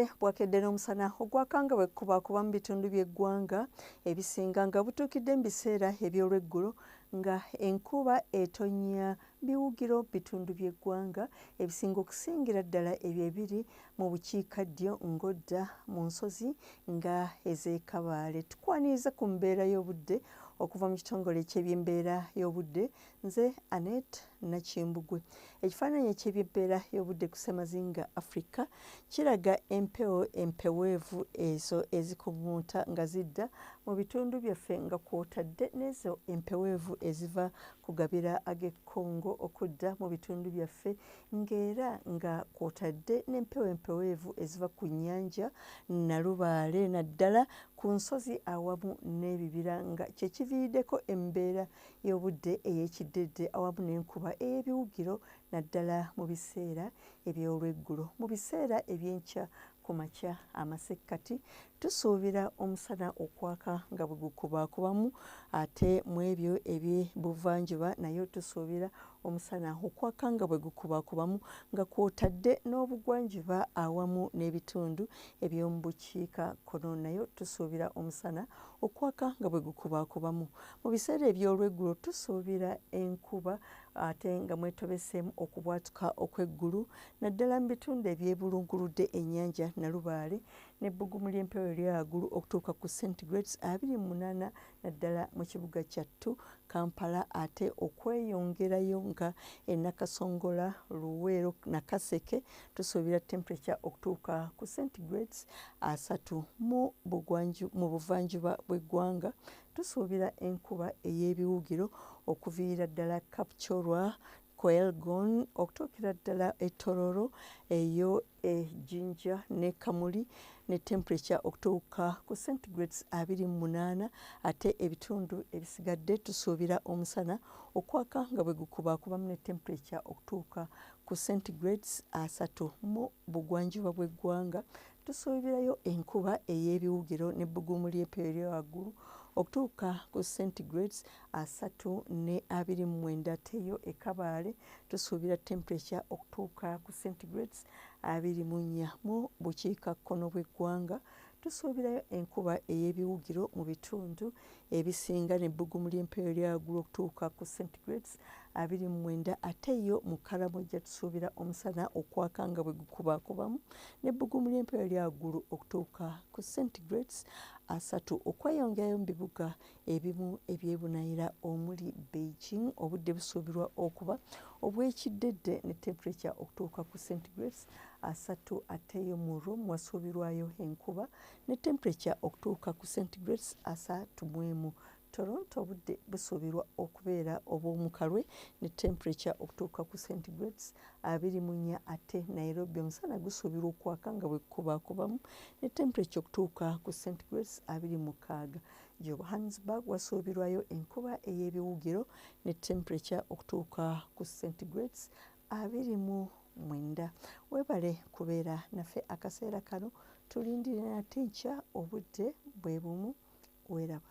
Obudde bwakedde n'omusana ogwakanga bwe kukubakuba mu bitundu by'eggwanga ebisinga nga butuukidde mu biseera eby'olweggulo nga enkuba etonnya biwugiro bitundu by'eggwanga ebisinga okusingira ddala ebyo ebiri mu bukiikaddyo ng'odda mu nsozi nga ez'ekabaale tukwaniriza ku mbeera y'obudde okuva mu kitongole ky'ebyembeera y'obudde nze anet nakimbugwe ekifaananyi eky'ebyebbeera y'obudde ku ssemazinga afrika kiraga empewo empeweevu ezo ezikubuunta nga zidda mu bitundu byaffe nga kwotadde n'ezo empeweevu eziva ku gabira ag'e congo okudda mu bitundu byaffe ng'era nga kwotadde n'empewo empeweevu eziva ku nnyanja nalubaale naddala ku nsozi awamu n'ebibira nga kyekiviiriddeko embeera y'obudde ey'ekiddedde awamu n'enkuba ey'ebiwugiro naddala mu biseera eby'olweggulo mu biseera eby'enkya ku makya amasekkati tusuubira omusana okwaka nga bwe gukubaakubamu ate mu ebyo eby'ebuvanjuba nayo tusuubira omusana okwaka nga bwe gukubaakubamu nga kwotadde n'obugwanjuba awamu n'ebitundu eby'omu bukiika kkono nayo tusuubira omusana okwaka nga bwe gukubaakubamu Mu biseera eby'olweggulo tusuubira enkuba ate nga mwetobeseemu okubwatuka okw'eggulu naddala mu bitundu ebyebulunguludde ennyanja Nalubaale n'ebbugumu ly'empewo eryagulu okutuuka ku centigrades abiri mu munaana naddala mu kibuga kyattu Kampala ate okweyongerayo nga e Nakasongola, Luweero na Kaseke tusuubira temperature okutuuka ku centigrades asatu mu buvanjuba bw'eggwanga Tusuubira enkuba ey'ebiwugiro okuviira ddala Kapchorwa, Koelgon okutuukira ddala e Tororo eyo e Jinja ne Kamuli ne temperature okutuuka ku centigrades abiri mu munaana ate ebitundu ebisigadde tusuubira omusana okwaka nga bwe gukubaakubamu ne temperature okutuuka ku centigrades asatu mu bugwanjuba bw'eggwanga Tusuubirayo enkuba ey'ebiwugiro n'ebbugumu ly'empewo erya waggulu okutuuka ku centigrades asatu ne abiri mu mwenda teyo e Kabaale tusuubira temperature okutuuka ku centigrades abiri mu nnya mu bukiikakkono bw'eggwanga tusuubirayo enkuba ey'ebiwugiro mu bitundu ebisinga n'ebbugumu ly'empewo eryagula okutuuka ku centigrades abiri mu mwenda ate yo mu kalamu ejja tusuubira omusana okwaka nga bwe gukubakubamu n'ebbugumu ly'empewo eryagulu okutuuka ku centigrades asatu okweyongerayo mu bibuga ebimu ebyebunayira omuli beijing obudde busuubirwa okuba obwekiddedde ne temperature okutuuka ku centigrades asatu ateyo mu room wasuubirwayo enkuba ne temperature okutuuka ku centigrades asatu mu emu. Toronto obudde busuubirwa okubeera obw'omukalwe ne temperature okutuuka ku centigrades abiri mu nnya ate Nairobi omusana gusuubirwa okwaka nga bwe gukubaakubamu ne temperature okutuuka ku centigrades abiri mu mukaaga. Johannesburg wasuubirwayo enkuba ey'ebiwugiro ne temperature okutuuka ku centigrades abiri mu mwenda webale kubeera nafe akaseera kano tulindire nate nkya obudde bwe bumu weraba